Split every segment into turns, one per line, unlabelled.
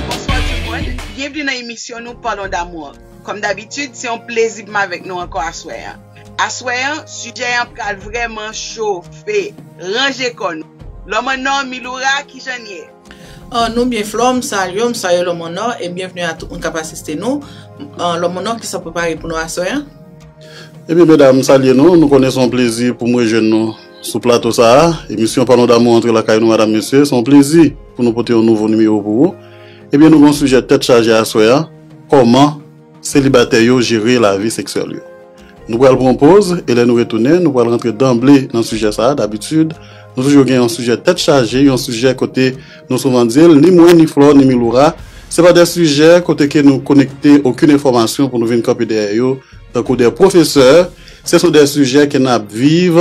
Bonswa tout moun, byenvni nan emisyon nou Parlons d'amour. Kòm dabitid, se yon plezi pou m avèk nou ankò aswè an. Aswè an sijè an pral vrèman chofe ranje kò nou Lò mwen nò Miloura kijan n ye? An nou byen
Flore m salye w m salye Lò mwen nò e byenvni a tout moun k ap asiste nou An Lò mwen nò kisa w prepare pou nou aswè an? Ebyen
medam m salye nou nou konnen se yon plezi pou m rejwenn nou sou plato sa a emisyon Pano Damou antre lakay nou madam mesye se yon plezi pou nou pote yon nouvo nimewo pou ou ebyen nou gen yon sijè tèt chaje aswè an kòman Selibatè yo jere lavi seksyèl yo. Nou pral pran yon poz e lè nou retounen nou pral rantre danble nan sijè sa a dabitid nou toujou gen yon sijè tèt chaje yon sijè kote nou souvan di l ni mwen ni Flore ni Miloura se pa de sijè kote ke nou konekte okin enfòmasyon pou nou vin kanpe dèyè yo tankou de pwofesè se sou de sijè ke n ap viv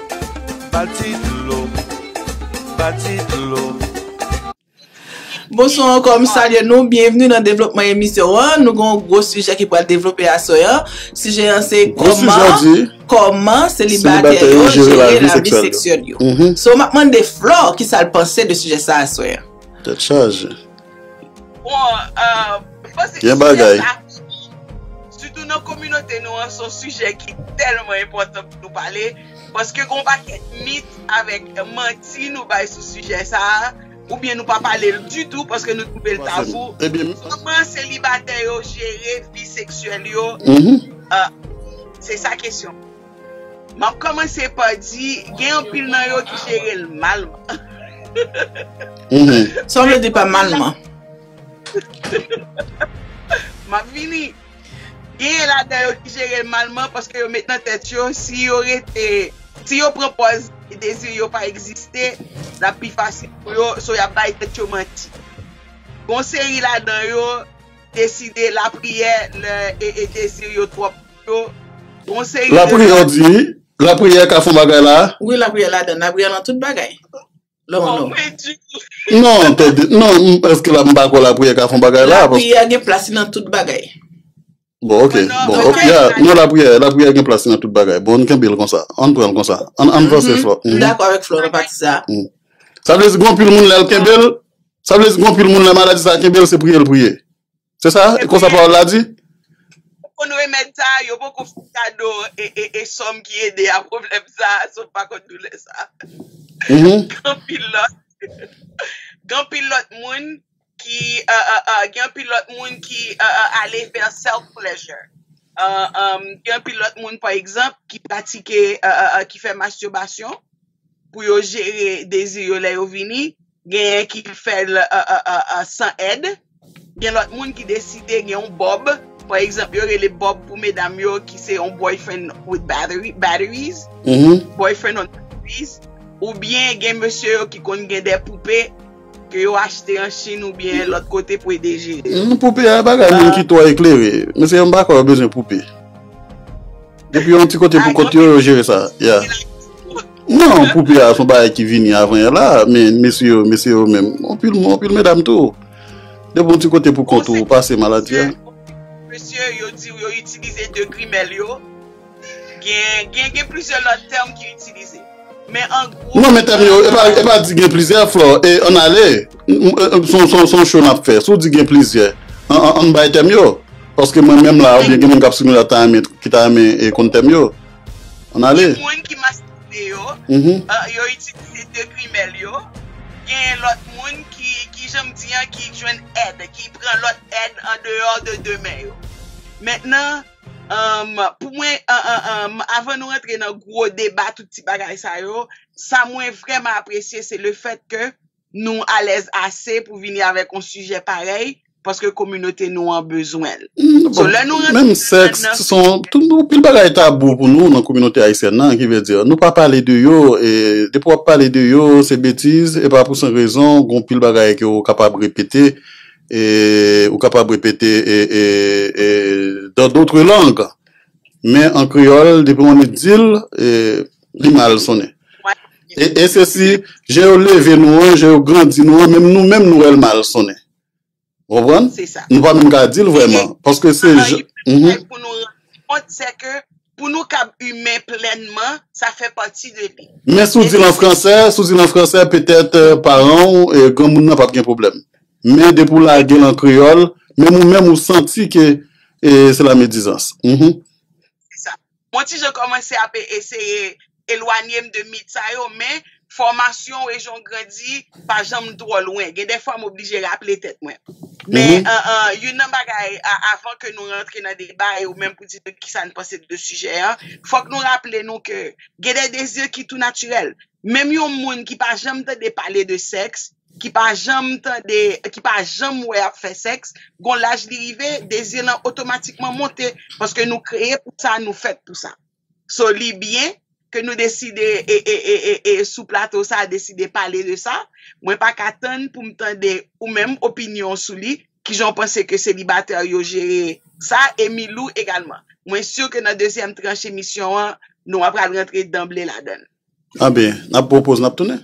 Bonswa ankò, m salye nou, byenvni nan devlopman emisyon an, nou gen yon gwo sijè ki pral devlope aswè an, sijè an se kòman selibatè yo jere lavi seksyèl yo, so m ap mande Flore kisa l panse de sijè sa aswè an. Tèt chaje.
Bon, mwen
panse ke sijè sa,
sitou nan kominote nou an, son sijè ki tèlman enpòtan pou nou pale, paske gon pakèt mit avèk manti nou bay sou sijè sa, oubyen nou pa pale l ditou paske nou twouve l tabou. Kòman selibatè yo jere vi seksyèl yo? Se sa kesyon. Map komanse pa di gen anpil nan yo ki jere l malman.
Sa w vle di pa malman?
Map vini. Gen ladan yo ki jere l malman paske yo met nan tèt yo si yo rete, si yo pran pòz dezi yo pa egziste, l ap pi fasil pou yo, so y ap bay tèt yo manti. Gon seri ladan yo deside lapriyè lè dezi yo twòp. yo gon seri de Lapriyè ou di wi
Lapriyè ka fon bagay la a? Wi lapriyè
ladann Lapriyè nan tout bagay Lè ou
non Non tande non Èske la m pa kwè lapriyè ka fon bagay la a paske Lapriyè gen plas li
nan tout bagay Bon ok
bon ok ya Non lapriyè lapriyè gen plas li nan tout bagay Bon n kenbe l konsa An n pran l konsa An n an n vanse Flò M dakò avèk Flò nan pati
sa a Sa vle di
gen anpil moun lè l kenbe l Sa vle di gen anpil moun lè maladi sa a kenbe l se priye l priye Se sa? E konsa pawòl la di? Ou konn
remèd sa a, yo poko fè kado e e e sòm ki ede a pwoblèm sa a, so m pa konn doulè sa a. Gen anpil lòt, gen anpil lòt moun ki a a a, gen anpil lòt moun ki a a ale vè self pleasure. A a a, gen anpil lòt moun pa egzanp ki pratike a a a, ki fè masturbasyon. pou yo jere dezi yo lè yo vini, genyen ki fè l san èd, gen lòt moun ki deside gen yon bòb, pa egzanp yo rele bòb pou medam yo ki se yon boyfriend with batteries, boyfriend on batteries, oubyen gen mesye yo ki konn gen de poupe ke yo achte an Chine oubyen lòt kote pou ede jere. Poupe a bagay
moun ki twò eklere, mesye yo m pa kwè yo bezwen poupe. Depi yon ti kote pou kont yo, yo jere sa. Non, poupe a son bagay ki vini avan yè la, men mesye yo, mesye yo menm, anpil moun, anpil medam tou. Depi yon ti kote pou kont ou, ou pase maladi a. Mesye yo di
yo itilize 2 grimèl yo, gen gen gen plizyè lòt tèm ki itilize. Non men tèm yo e
pa di gen plizyè flò e ann ale son show nap fè si w di gen plizyè ann bay tèm yo paske mwen menm la oubyen gen moun kap swiv nou la ki ta renmen konn tèm yo ann ale. Gen moun ki maskilen yo, yo itilize de
grimèl yo, gen lòt moun ki ki jan m di an ki jwenn èd ki pran lòt èd andeyò de de men yo. Mentnan. Pou mwen, avan nou rantre nan gwo deba tout ti bagay sa yo, sa mwen vrèman apresye se le fèt ke nou alèz ase pou vini avèk yon sijè parèy paske kominote nou an bezwen l.
Menm sèks, anpil bagay tabou pou nou nan kominote ayisyèn nan ki vle di nou pa pale de yo e depi w ap pale de yo se betiz e pa pou san rezon gon pil bagay ke ou kapab repete ou kapab repete dans d'autres langues men an kreyòl depi yon nèg di l li mal sonnen e se si jan yo leve nou an jan yo grandi nou an menm nou menm nou wè l mal sonnen ou konprann nou pa menm ka
di l vrèman
paske se jan.
Pou nou kab imen plènman, sa fè pati de li. Men si w di l an fransè,
si w di l an fransè, petèt paran w, granmoun nan p ap gen pwoblèm. Men depi w lage l an kreyòl, menm ou menm ou santi ke se lamedizans. Se sa. M yon
ti jan kòmanse ap eseye elwanye m de mit sa yo men fòmasyon w e jan w grandi pa janm twò lwen. Gen dè fwa m oblije raple tèt mwen. Men youn nan bagay avan ke nou rantre nan deba e ou menm pou di nou kisa n panse de sijè an, fòk nou raple nou ke gen dè dezi ki tou natirèl. Menm yon moun ki pa janm tande pale de sèks, ki pa janm tande, ki pa janm wè y ap fè sèks, gon laj li rive, dezi lan otomatikman monte paske nou kreye pou sa, nou fèt pou sa. So li byen ke nou deside e sou plato sa deside pale de sa. Mwen pa ka tann pou m tande ou menm opinyon w sou li. Kijan w panse ke selibatè yo jere sa e Milou egalman. Mwen si ke nan dezyèm tranch emisyon an nou apral rantre danble ladan l. Anben, n
ap pran yon poz n ap tounen.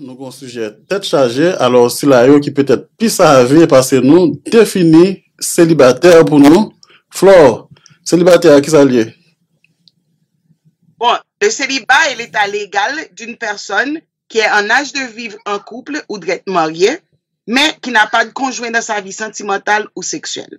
nou gen yon sijè tèt chaje, alò sila yo ki petèt pi save pase nou defini selibatè pou nou, Flore, selibatè a kisa l ye?
Bon, le célibat est l'état légal d'une personne qui est en âge de vivre en couple ou drèt marye, men ki n'a pas de conjoint dans sa vie sentimentale ou sexuelle.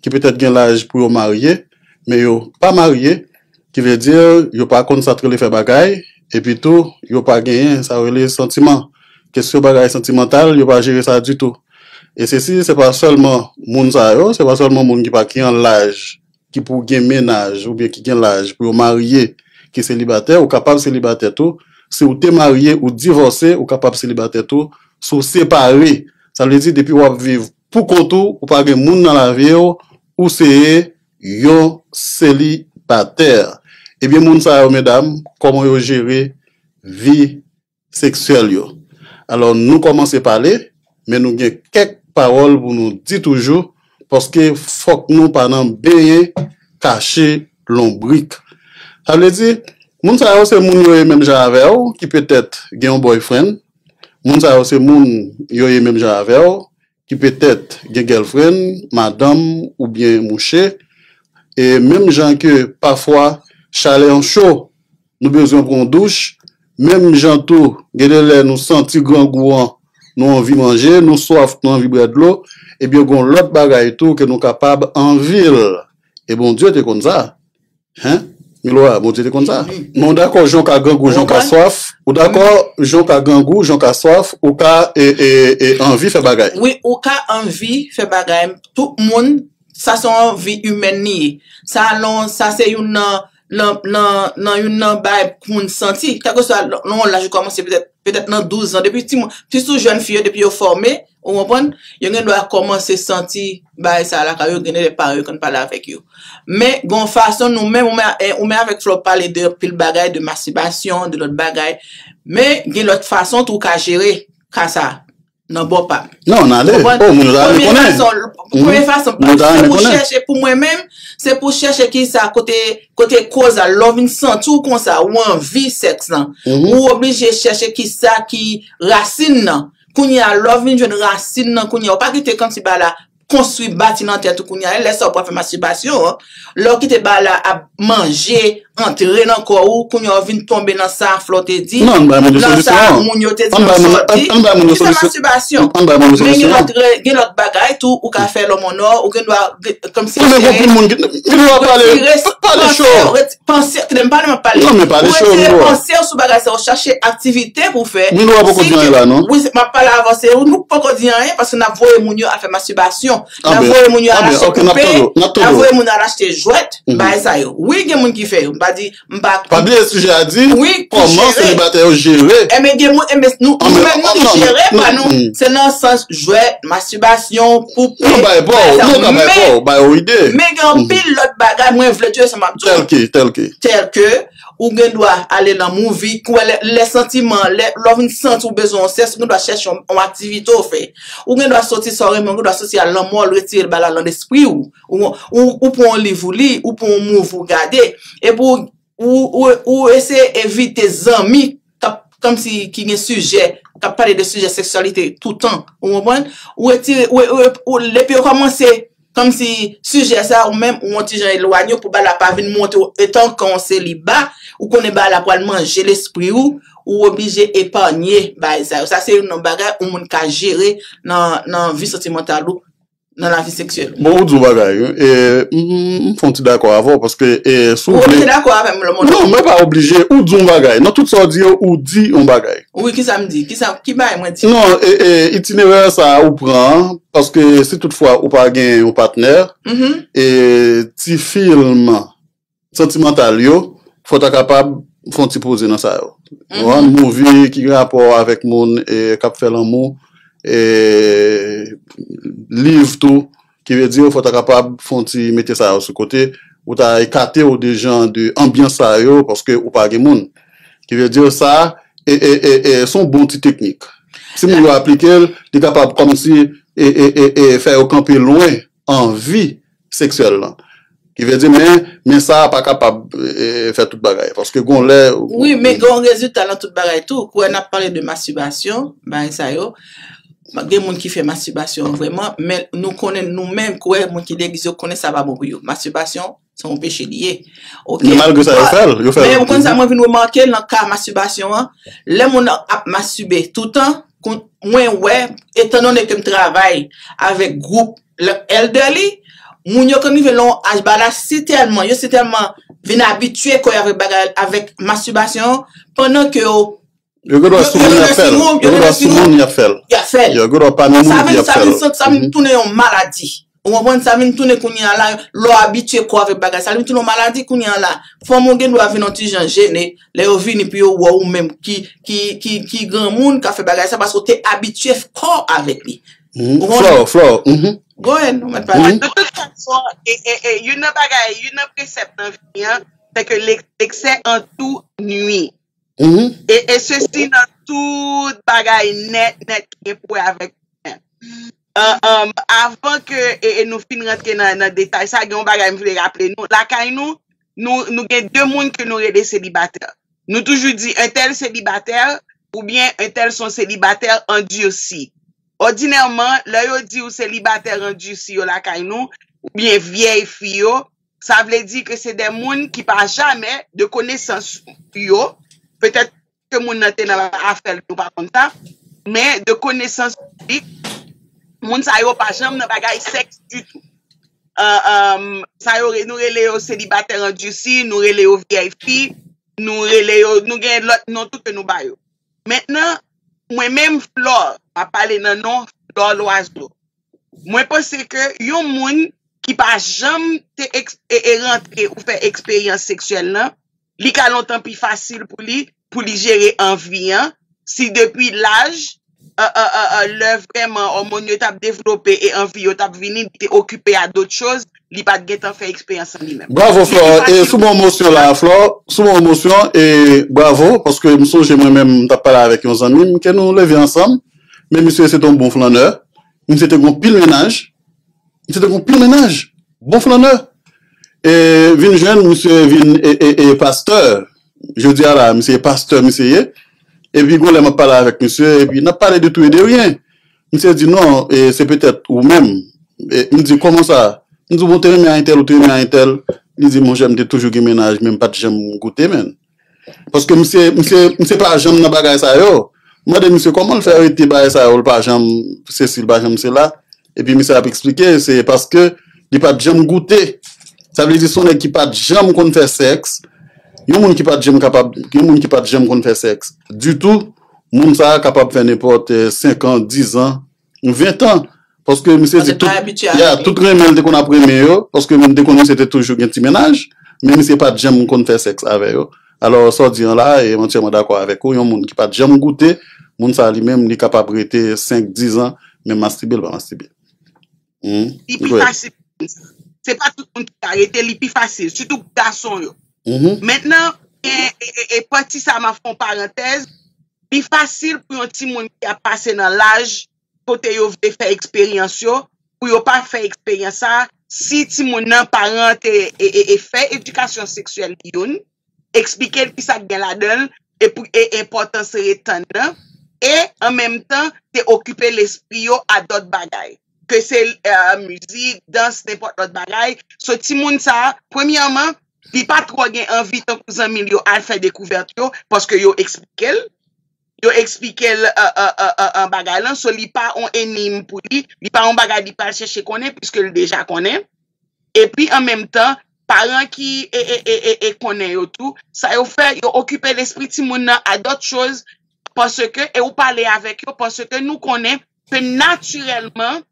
ki petèt gen laj pou yo marye, men yo pa marye, ki vle di yo pa konn sa t rele fè bagay, epi tou yo pa genyen sa yo rele santiman, kesyon bagay santimantal yo pa jere sa ditou. E sesi se pa sèlman moun sa yo, se pa sèlman moun ki pa ki an laj, ki pou gen mennaj oubyen ki gen laj pou yo marye ki selibatè, ou kapab selibatè tou, si w te marye ou divòse ou kapab selibatè tou, si w separe, sa vle di depi w ap viv Pou kont ou, ou pa gen moun nan lavi w, ou se yon selibatè. Ebyen moun sa yo medam, kòman yo jere vi seksyèl yo? Alò nou kòmanse pale, men nou gen kèk pawòl pou nou di toujou, paske fòk nou pa nan benyen kache lonbrik. Sa vle di, moun sa yo se moun yo ye menm jan avè w, ki petèt gen yon boyfriend, Moun sa yo se moun yo ye menm jan avè w ki petèt gen gèlfrenn, madanm oubyen mouche. E menm jan ke pafwa chalè an cho nou bezwen pran yon douch, menm jan tou gen de lè nou santi grangou an nou anvi manje, nou swaf nou anvi bwè dlo, ebyen gon lòt bagay tou ke nou kapab anvi l. E Bondye te konn sa. Hein? Milora, Bondye te konn sa? Men w dakò jan w ka grangou, jan w ka swaf? Ou dakò jan w ka grangou, jan w ka swaf, ou ka anvi fè bagay? Wi, ou ka anvi
fè bagay. Tout moun, sa se yon anvi imèn li ye. Sa alon, sa se youn nan, nan, nan, nan youn nan bagay pou moun santi. Kèlkeswa nan yon laj ou kòmanse petèt, petèt nan 12 zan, depi ti moun, sitou jèn fi yo depi yo fòme. Ou konprann? Yo gen dwa kòmanse santi bagay sa a lakay yo, gen de lè paran yo konn pale avèk yo. Men, gen yon fason nou menm, ou menm, ou menm avèk Flore pale de anpil bagay, de mastibasyon, de lòt bagay. Men, gen lòt fason tou ou ka jere ka sa a, nan bò pa m. Non, nan ale. Ou konprann? O, moun
yo ta renmen konnen.
Premye fason, premye fason, Moun yo ta renmen konnen. Se pou chèche, pou mwen menm, se pou chèche ki sa, kote, kote koz la, lè w vin santi w konsa, ou anvi sèks lan, ou oblije chèche ki sa ki rasin nan. Kounye a lè w vin jwenn rasin nan kounye a, ou pa kite kanti ba la konstwi bati nan tèt ou kounye a, e lè sa ou pral fè mastibasyon an, lè ou kite ba la ap manje, antre nan kò ou, kounye a ou vin tonbe nan sa Flore te di, nan sa
moun yo te di
nan sòti, ki se mastibasyon. Men gen lòt rè, gen lòt bagay tou ou ka fè lòmònò, ou gen dwa kòmsi sere,
retire, retire, retire. Panse, tande m pale
m ap pale. Non men pale cho Milwa. Ou retire
panse w sou bagay sa
ou chache aktivite pou w fè. Milwa poko di anyen la
non. Wi m ap pale avanse wi
nou poko di anyen paske n ap voye moun yo al fè mastibasyon. N ap voye moun yo al achte koupe. Anben ok n ap tande w. N ap tande w. N ap voye moun al achte jwèt bagay sa yo. Wi gen moun ki fè yo m pa di m pa. Pa bliye sijè
a di kòman selibatè
yo
jere. Enben gen moun enben
nou menm nou jere pa nou se nan sans jwèt. Masturbasyon, poupe, Yo bay pou w, yo
ka bay pou w, bay w ide. Men gen anpil
lòt bagay mwen vle di yo sa m ap di w. Tèlke, tèlke.
Tèlke,
ou gen dwa ale nan mouvi, kouwè lè, lè santiman, lè w vin santi w bezwen yon sèks, ou gen dwa chèche yon, yon aktivite w fè. Ou gen dwa soti sa w renmen, ou gen dwa soti al nan mòl, retire bagay lan lespri w. Ou, ou pran yon liv ou li, ou pran yon mouvi ou gade. Epi w. Ou eseye evite zanmi kap kòm si ki gen sijè, kap pale de sijè seksyalite toutan. Ou konprann? Ou retire, ou depi yo kòmanse kòm si sijè sa ou menm ou yon ti jan elwanye ou pou bagay la pa vin monte ou etan ke yon seliba, ou konnen bagay la pral manje lespri ou, ou oblije epanye bagay sa yo. Sa se youn nan bagay yon moun ka jere nan vi santimantal ou. nan lavi seksyèl ou. Bon ou di yon bagay wi,
e m fon ti dakò avè w paske e si w vle. Ou oblije dakò
avè m lò mon anmi. Non mwen pa oblije, ou
di yon bagay, nan tout sa w di yo ou di yon bagay. Wi kisa m di, kisa,
ki bagay mwen di. Non e e itinerè
sa ou pran an, paske si tout fwa ou pa gen yon patnè, e ti film. Santimantal yo, fò w ta kapab fè yon ti poze nan sa yo. Ou konprann? Mouvi ki gen rapò avèk moun k ap fè lanmou, liv tou, ki vle di fò w ta kapab fè yon ti mete sa yo sou kote. Ou ta ekate w de jan de anbyans sa yo paske ou pa gen moun. Ki vle di sa se yon bon ti teknik. Si moun yo aplike l, li kapab kòmsi fè yo kanpe lwen. anvi seksyèl lan ki vle di men men sa pa kapab fè tout bagay paske gon lè ou. Wi men gen yon
rezilta nan tout bagay tou kouwè nap pale de mastibasyon bagay sa yo gen moun ki fè mastibasyon vrèman men nou konnen nou menm kouwè moun ki degize yo konnen sa pa bon pou yo mastibasyon Se yon peche li ye. Ok. Men malgre sa yo fè l.
Yo fè l. Men ou konn sa mwen vin
remake nan ka mastibasyon an, lè moun nan ap mastibe toutan, mwen wè, etan done ke m travay avèk gwoup elderly, moun yo konn rive nan yon aj ba la si tèlman, yo si tèlman vin abitye kò yo avèk bagay, avèk mastibasyon an, pandan ke yo Yo gen dwa
sou moun yap fèl. Yo gen dwa sou moun yap fèl. Yap fèl. Yo gen dwa pa nan moun epi yap fèl. Sa vin sa vin tounen yon
maladi. Ou konprann sa vin tounen kounye an la lè w abitye kò w avèk bagay sa li vin tounen yon maladi kounye an la. Fanm ou gen dwa vin yon ti jan jene lè yo vini pou yo wè w ou menm ki ki ki ki granmoun ka fè bagay sa paske w te abitye fè kò avèk li. Flore flore.
Go ahead
ou mèt pale. De tout
fason youn nan bagay youn nan presèp nan vi an se ke leksè an tou nwi. Mhm. E, e sesi nan tout bagay nèt nèt ki gen pou wè avèk mwen. An, an, avan ke e, e nou fin rantre nan, nan detay sa, gen yon bagay m vle raple nou. Lakay nou, nou, nou gen de moun ke nou rele selibatè. Nou toujou di entèl selibatè oubyen entèl son selibatè andursi. Òdinèman, lè yo di ou selibatè andursi yo lakay nou, oubyen vyèy fi yo, Sa vle di ke se de moun ki pa jamè, de konesans yo, petèt ke moun nan te nan afè l, nou pa konn sa, men de konesans piblik, moun sa yo pa janm nan bagay sèks ditou. Sa yo, nou rele yo selibatè andisi, nou rele yo vyèy fi, nou rele yo, nou gen lòt non tou ke nou ba yo. Mentnan, mwen menm Flore, m ap pale nan non Flore Loiseau, Mwen panse ke yon moun ki pa janm te rantre ou fè eksperyans seksyèl nan, li ka lontan pi fasil pou li, pou li jere anvi an, si depi laj, lè vreman òmòn yo tap devlope e anvi yo tap vini, li te okipe a dot choz, li pat gentan fè eksperyans an li menm. Bravo Flore, e sou
bon mosyon la a Flore, sou bon mosyon, e bravo, paske m sonje mwen menm m tap pale avèk yon zanmi m ke nou leve ansanm, Men misye se te yon bon flannè. Misye te gen yon pil mennaj. Misye te gen yon pil mennaj. Bon flannè. E vin jwenn misye vin e pastè. Jodi a la, misye e pastè misye ye. E pi gon lè m ap pale avèk misye, e pi n ap pale de tou e de ryen. Misye di non, e se petèt ou menm. E m di kòman sa? M di bon ou te renmen a entèl, ou te renmen a entèl. Li di monchè m te toujou gen mennaj men m pa t janm goute menn. Paske misye misye misye pa janm nan bagay sa yo. M mande misye kòman l fè rete bagay sa yo l pa janm sesi l pa janm sela. Epi misye ap eksplike se paske li pat janm goute. Sa vle di s on nèg ki pat janm konn fè sèks. Yon moun ki pat janm kapab yon moun ki pat janm konn fè sèks ditou moun sa kapab fè nenpòt senkan dizan Yon 20 tan. Paske misye di tout. Paske l pa abitye avèk li. Ya, tout renmen l te konn ap renmen yo. Paske m te konn misye te toujou gen ti mennaj. Men misye pa t janm konn fè sèks avè yo. Alò, sa w di an la, e mwen tèlman dakò avèk ou. Yon moun ki pa t janm goute, moun sa li menm li kapab rete 5, 10 an, men mastibe l pa mastibe. Hum. Li pi fasil pou moun
sa. Se pa tout moun ki ka rete, li pi fasil. Sitou pou gason yo. Hum. Mentnan, gen, e, e, e, pati sa m ap fè yon parantèz. Li fasil pou yon timoun ki ap pase nan laj kote yo vle fè eksperyans yo pou yo pa fè eksperyans sa a si timoun nan paran an te fè edikasyon seksyèl li youn, eksplike l ki sa k gen ladan l e enpòtans retenn nan e an menm tan te okipe lespri yo a dòt bagay ke se mizik, dans, nenpòt lòt bagay. So timoun sa a premyèman li pa twò gen anvi tankou zanmi l yo al fè dekouvèt yo paske yo eksplike l, yo eksplike l bagay lan so li pa yon enigm pou li, li pa yon bagay li pral chèche konnen piske l deja konnen. Epi an menm tan, paran ki konnen yo tou, sa yo fè, yo okipe lespri timoun nan a dòt choz paske e ou pale avèk yo paske nou konnen ke natirèlman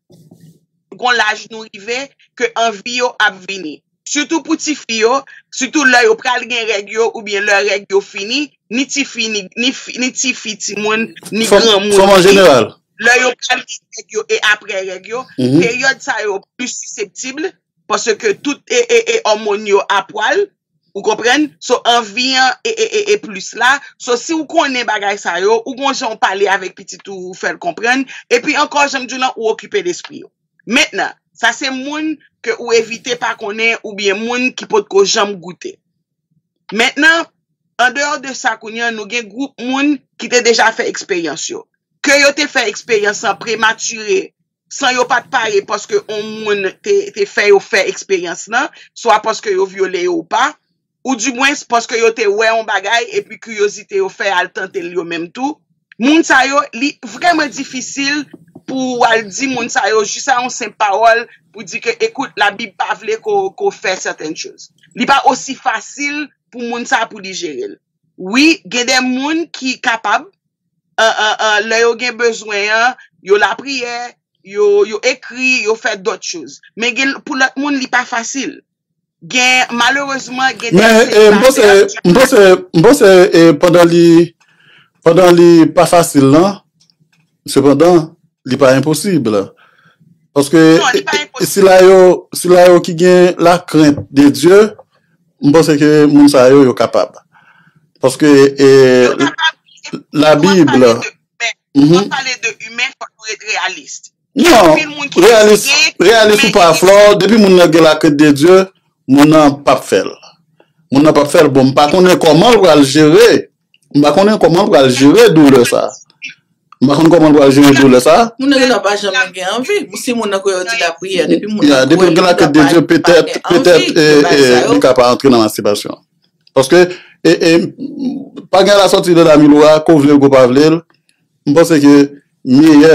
gon laj nou rive ke anvi yo ap vini sitou pou tifi yo sitou lè yo pral gen règ yo oubyen lè règ yo fini ni tifi ni ni tifi timoun ni granmoun vini lè
yo pral
gen règ yo e aprè règ yo peryòd sa yo plis siseptib paske tout e e òmon yo a pwal Ou konprann? So anvi an e e e e plis la. So si ou konnen bagay sa yo, ou gon jan ou pale avèk pitit ou, ou fè l konprann. Epi ankò, jan m di w lan, ou okipe lespri yo. Mentnan, sa se moun ke ou evite pa konnen oubyen moun ki potko janm goute. Mentnan, andeyò de sa kounye an, nou gen gwoup moun ki te deja fè eksperyans yo. Ke yo te fè eksperyans lan prematire san yo pa t pare paske yon moun te fè yo fè eksperyans lan, swa paske yo vyole yo ou pa, oudimwens paske yo te wè yon bagay epi kiryozite yo fè al tante l yo menm tou, moun sa yo, li vrèman difisil pou w al di moun sa yo jis a yon senp pawòl pou di ke ekout Labib pa vle ke w fè sètèn choz. Li pa osi fasil pou moun sa a pou li jere l. Wi, gen de moun ki kapab. lè yo gen bezwen an, yo lapriyè, yo ekri, yo fè dòt choz. Men gen pou lòt moun li pa fasil. Gen malerezman gen de
selibatè. M panse, m panse pandan li, pandan li pa fasil lan, sepandan li pa enposib. Paske sila yo, sila yo ki gen lakrent de Dye, M panse ke moun sa yo yo kapab. Paske e la bible. Lè nou ap
pale de humain fòk nou ret
realiste. Non realiste ou pa flò depi moun nan gen la crainte de Dieu moun nan pap fèl. Moun nan pap fèl bon m pa konnen kòman l pral jere. M pa konnen kòman l pral jere doulè sa. M pa konnen kòman l pral jere doulè sa. Moun nan genlè pa
janm gen anvi. Si moun nan kwè yo di lapriyè, depi moun
nan kwè li pa gen anvi, li ka pa antre nan mastibasyon. Paske, pa gen lasòti de la milou a, ke w vle l ke w pa vle l, m panse ke meyè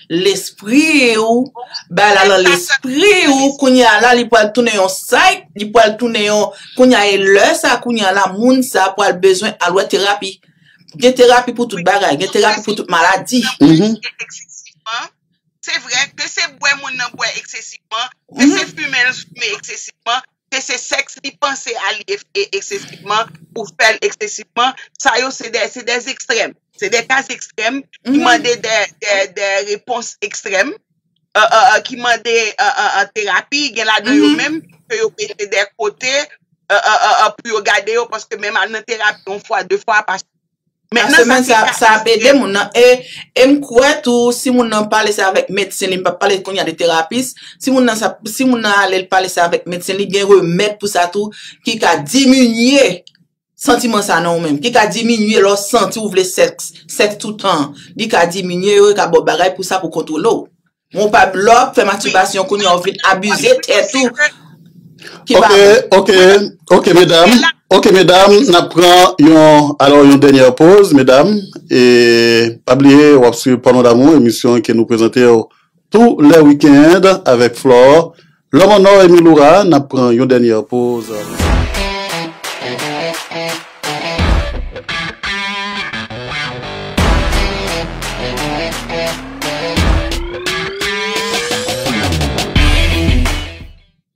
Lespri ou bay la lan lespri ou kounya la li pwal tounen yon sait li pwal tounen yon kounya e lè sa kounya la moun sa pwal bezwen al wè terapi gen terapi pou tout bagay gen terapi pou tout maladi. Se vre ke
se bwè moun nan bwè eksesivman, ke se fimen l fimen eksesivman, ke se sèks li panse a li eksesivman ou fè l eksesivman, sa yo se dè ekstrèm, se dè ka ekstrèm ki mande dè repons ekstrèm, ki mande terapi, gen la de yo menm ke yo mete dè kote pou yo gade yo, paske menm al nan terapi yon fwa, de fwa pa sifizan.
Nan semèn sa a, sa ap ede moun nan e, e m kwè tou si moun nan pale sa avèk medsen li, m pap pale kounye a de terapis, si moun nan sa, si moun nan ale l pale sa avèk medsen li, gen remèd pou sa tou ki ka diminye santiman sa nan ou menm, ki ka diminye lè w santi ou vle sèks, sèks toutan an, li ka diminye yo, yo ka ba w bagay pou sa pou kontwole w. Ou pa blòk fè mastibasyon kounye a ou fin abize tèt ou ki pa bon. Ok,
ok, ok medam, ok medam nap pran yon alò yon dènyè poz medam e pa bliye wap swiv Porno D'amour emisyon ke nou prezantew tou lè weekend avèk Flore Lòm an nò Emmy Laura n ap pran yon dènyè poz.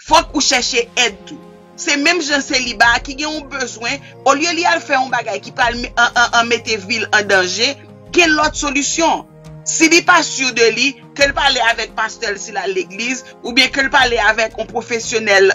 Fòk ou chèche èd tou. Se menm jan seliba a ki gen yon bezwen, olye li al fè yon bagay ki pral mete vi l an danje, gen lòt solisyon. Si li pa sur de li, ke l pale avèk pastè l si l al legliz, oubyen ke l pale avèk yon pwofesyonèl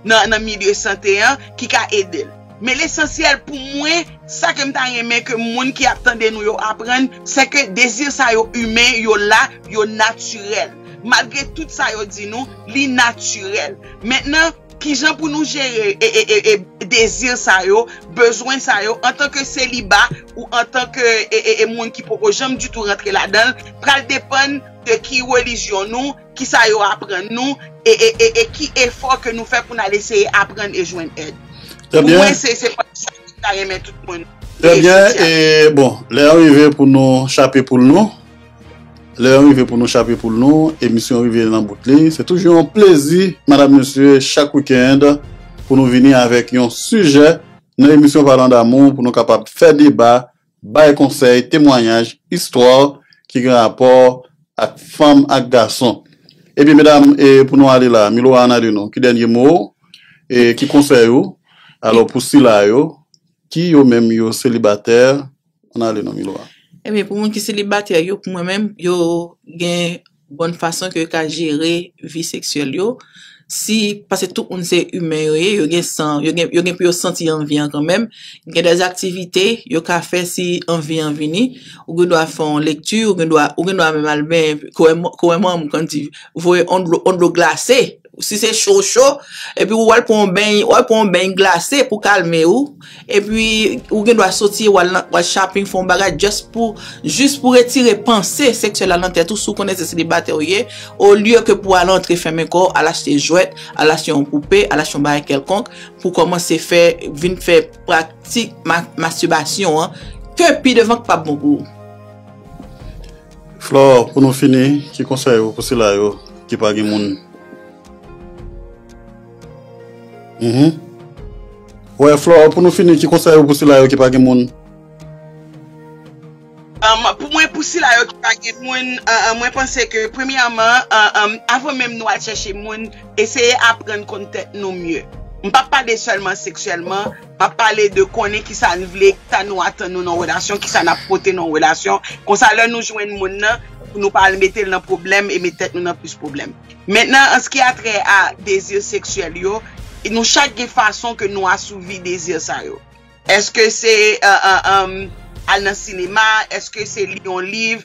nan milye sante an ki ka ede l. Men lesansyèl pou mwen, sa ke m ta renmen ke moun ki ap tande nou yo aprann, se ke dezi sa yo imen, yo la, yo natirèl. Malgre tout sa yo di nou, li natirèl. Mentnan. Kijan pou nou jere e dezir sa yo, bezwen sa yo antanke seliba ou antanke e moun ki poko janm ditou rantre ladan l pral depann de ki relijyon nou, kisa yo aprann nou e ki efò ke nou fè pou n al eseye aprann e jwenn èd. Pou mwen se
se pati
sa ke
m
ta renmen tout moun eseye. Trè byen e
bon lè an rive pou nou chape poul nou. Lè an rive pou nou chape poul nou, emisyon rive nan bout li. Se toujou yon plezi, madam mesye, chak weekend pou nou vini avèk yon sijè nan emisyon Parlons d'amour pou nou kapab fè deba, bay konsèy, temwanyaj, istwa ki gen rapò ak fanm ak gason. Ebyen medam, pou nou ale la, Milou Ana de nou, ki dènye mo ou? Ki konsèy ou? Alò pou sila yo ki yo menm yo selibatè, An ale non Milou a. Ebyen pou moun ki
selibatè yo pou mwen menm yo gen bon fason ke yo ka jere vi seksyèl yo si pase tout moun se imen yo ye yo gen san yo gen pou yo santi anvi an kanmenm gen dè aktivite yo ka fè si anvi an vini ou gen dwa fè yon lekti ou gen dwa menm al benyen kouwè manmanm kòm di voye yon dlo glase. Si se cho cho, epi ou al pran yon beny, ou al pran yon beny glase pou kalme ou, epi ou gen dwa soti e ou al nan ou al shopping fè yon bagay just pou jis pou retire panse seksyèl la nan tèt ou si w konnen se selibatè ou ye, olye ke pou al antre fèmen kò w, al achte jwèt, al achte yon poupe, al achte yon bagay kèlkonk pou kòmanse fè vin fè praktik mastibasyon an ke pi devan k pap bon pou ou.
Flore, pou nou fini, ki konsèy ou pou sila yo ki pa gen moun? Uhmm. Wè, Flore, pou nou fini, ki konsèy ou pou sila yo ki pa gen moun?
Umm, pou mwen, pou sila yo ki pa gen moun, mwen panse ke premyèman, avan menm nou al chèche moun, eseye aprann konn tèt nou mye. M pa pale sèlman seksyèlman. M ap pale de konnen ki sa n vle, ki sa nou atann nou nan yon relasyon, ki sa n ap pote nan yon relasyon. Kon sa lè nou jwenn moun nan, pou nou pa al mete l nan pwoblèm e met tèt nou nan plis pwoblèm. Mentnan an s ki atrè a dezi seksyèl yo, nou chak gen fason ke nou asouvi dezi sa yo. Èske se al nan sinema, èske se li yon liv,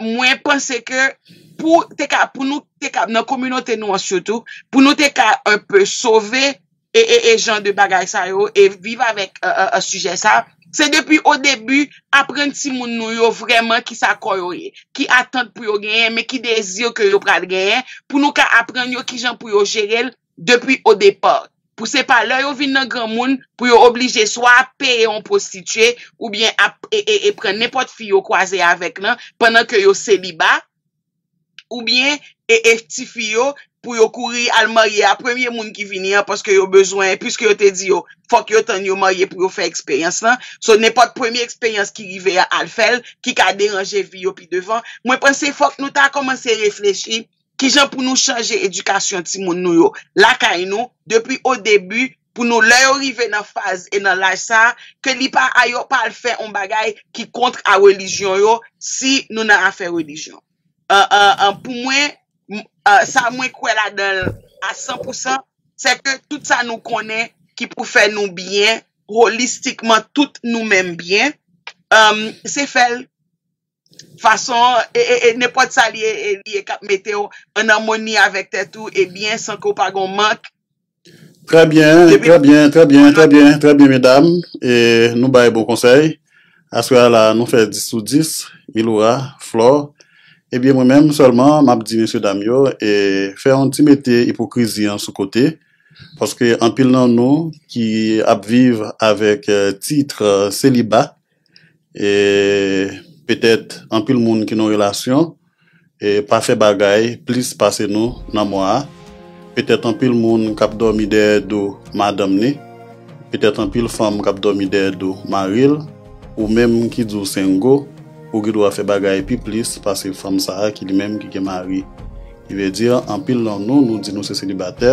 mwen panse ke pou te ka, pou nou te ka nan kominote nou an sitou, pou nou te ka un peu sove e jan de bagay sa yo e viv avèk sijè sa, se depi o debi aprann timoun nou yo vrèman ki sa kò yo ye, ki atant pou yo genyen men ki dezi ke yo pral genyen pou nou ka aprann yo ki jan pou yo jere l depi o depart pou se pa lè yo vin nan granmoun pou yo oblije swa ap peye on prostitue oubyen ap e pran nenpòt fi yo kwaze avèk lan pandan ke yo seliba oubyen e e ti fi yo pou yo kouri al marye a premye moun ki vini an paske yo bezwen piske yo te di yo fòk yo tann yo marye pou yo fè eksperyans lan so nenpòt premye eksperyans ki rive a al fèl ki ka deranje vi yo pi devan mwen panse fòk nou ta kòmanse reflechi Kijan pou nou chanje edikasyon timoun nou yo lakay nou depi o debi pou nou lè yo rive nan faz e nan laj sa a ke li pa a yo pa al fè on bagay ki kontr a relijyon yo si nou nan afè relijyon an pou mwen sa mwen kwè ladan l a san pou san se ke tout sa nou konnen ki pou fè nou byen holistikman tout nou menm byen an se fè l Fason, e, e, e nenpòt sa li ye, e, li ye k ap mete w ann amoni avèk tèt ou e byen san ke w pa gen yon mank, Trè
byen, depi trè byen, trè byen, trè byen, trè byen medam, e nou bay bon konsèy. Aswè a la nou fè 10 sou 10, Miloura, Flore, e byen mwen menm sèlman m ap di mesye dam yo, e, fè yon ti mete ipokrizi an sou kote, paske anpil nan nou ki ap viv avèk tit seliba, e petèt anpil moun ki nan yon relasyon pa fè bagay plis pase nou nan mwa a, petèt anpil moun k ap dòmi dèyè do madanm ni, petèt anpil fanm k ap dòmi dèyè do mari l, ou menm ki di w sengo, ou gen dwa fè bagay pi plis pase fanm sa a ki li menm ki gen mari. Ki vle di anpil nan nou, nou di nou se selibatè,